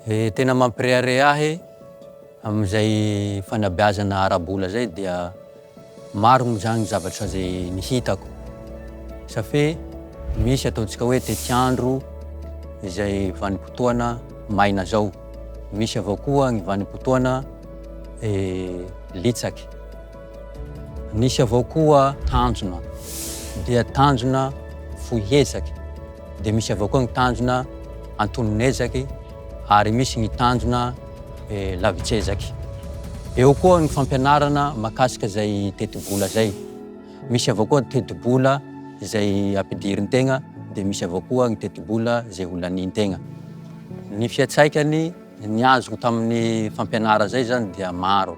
Dia tena mampirehareha ahy amin'izay fanabeazana ara-bola izay dia maro moa izany zavatra izay nihitako. Safe misy ataontsika hoe tetiandro izay vanim-potoana maina izao. Misy avao koa ny vanim-potoana eh, litsaky. Nisy avao koa tanjona, dia tanjona fohy ezaky, dia misy avao koa ny tanjona antonon'ezaky, ary misy ny tanjona lavitsezaky. Eo koa ny fampianarana mahakasika izay tetibola izay. Misy avao koa ny tetibola izay ampidirin-tegna, dia misy avao koa ny tetibola izay holanin-tegna. Ny fiantsaikany, ny azoko tamin'ny fampianara izay zany dia maro.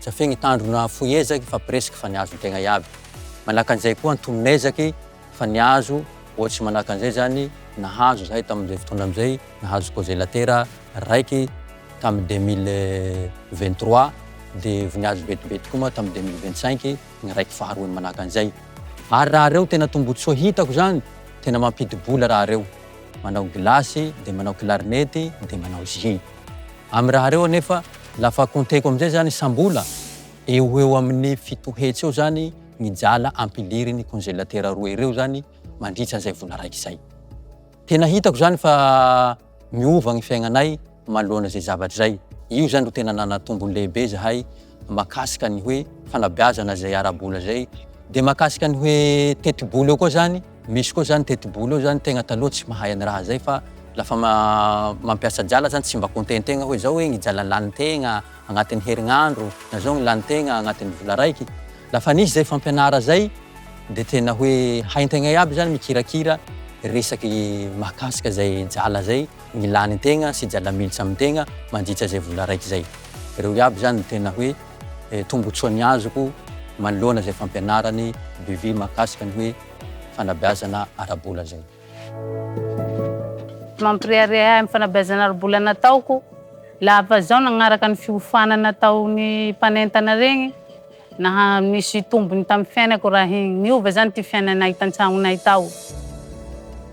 Tsy afehy ny tandrona fohy ezaky fa presque fa nihazo ny tegna iaby. Manaka an'izay koa antonona ezaky fa nihazo ohatsy manaka an'izay zany nahazo zahay tamin'izay fotoana am'izay nahazo kozelatera raiky tamin'ny deux mille vingt trois de vao nihazo betibety koa moa tamin'ny deux mille vingt cinq ny raiky faharoany manaka an'izay. Ary raha reo tena tombotsoa hitako zany tena mampidi-bola raha reo manao gilasy de manao klarinety de manao jus. Amin'ny raha ireo anefa, lafa compteko amin'izay izany isam-bola, eo ho eo amin'ny fito hetsy eo izany ny jala ampilirin'ny konzelatera roa ireo izany mandritra an'izay vola raiky izay. Tena hitako izany fa miova ny fiaignanay manoloana izay zavatra izay. Io izany ro tena nanatombony lehibe izahay makasika ny hoe fanabeazana zay ara-bola zay de makasika ny hoe tetibola eo koa zany misy koa zany tetibola eo zany tegna taloha tsy mahay any raha zay fa la fa mampiasa jala zany tsy mba compter tegna hoe zao hoe ny jala lany tegna agnatin'ny herignandro na zao ny lany tegna agnatin'ny vola raiky la fa nisy zay fampianara zay de tena hoe haintegna iaby zany mikirakira resaky mahakasika zay jala zay ny lany tegna sy jala militsa amin tegna mandritsa zay vola raiky zay. Reo iaby zany no tena hoe tombotsoa ny azoko manoloana zay fampianarany Bivy mahakasika ny hoe fanabeazana ara-bola zay. Mampirehareha ahy am fanabeazana ara-bola nataoko lafa zaho nagnaraka ny fiofanana ataony mpanentana regny. Naha-misy tombony tamin'ny fiainako raha niova izany ity fiainanay tan-tsahaonay tao.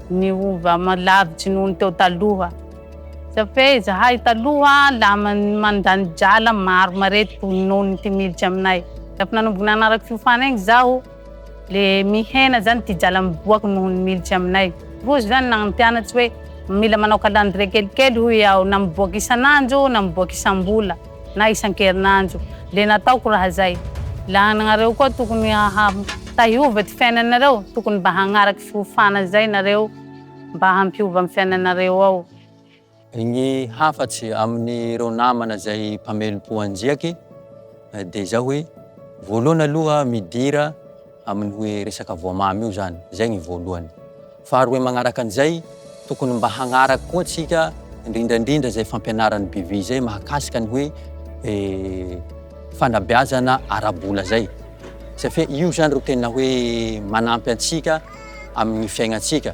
Niova lavitsy noho ny teo taloha. Tsy fe izahay taloha laman'ny mandany drala maro marety noho ny ity miditra aminay. Rehefa nanomboka nanaraka fiofana iny izaho, dia mihena izany ity drala miboaka noho ny miditra aminay. Rozy izany no nagnano mpianatry hoe, Mila manao kalandrie kelikely, hoy aho, na miboaka isan'andro na miboaka isam-bola. na isan-kerinandro le nataoko raha zay la anareo koa tokony haha tahiova ty fiainanareo tokony mba hagnaraky fiofana zay nareo mba hampiova am fiainanareo ao. Ny hafatsy aminy reo namana zay mpamelom-po anjiaky de zao hoe voalohany aloha midira, amin'ny hoe resaka voamamy io zany, zay ny voalohany. Faharoe magnaraka an'izay, tokony mba hagnaraka koa antsika indrindra indrindra izay fampianaran'ny BV izay mahakasika ny hoe fanabeazana ara-bola zay. Safia io zany ro tena hoe manampy antsika amin'ny fiainantsika.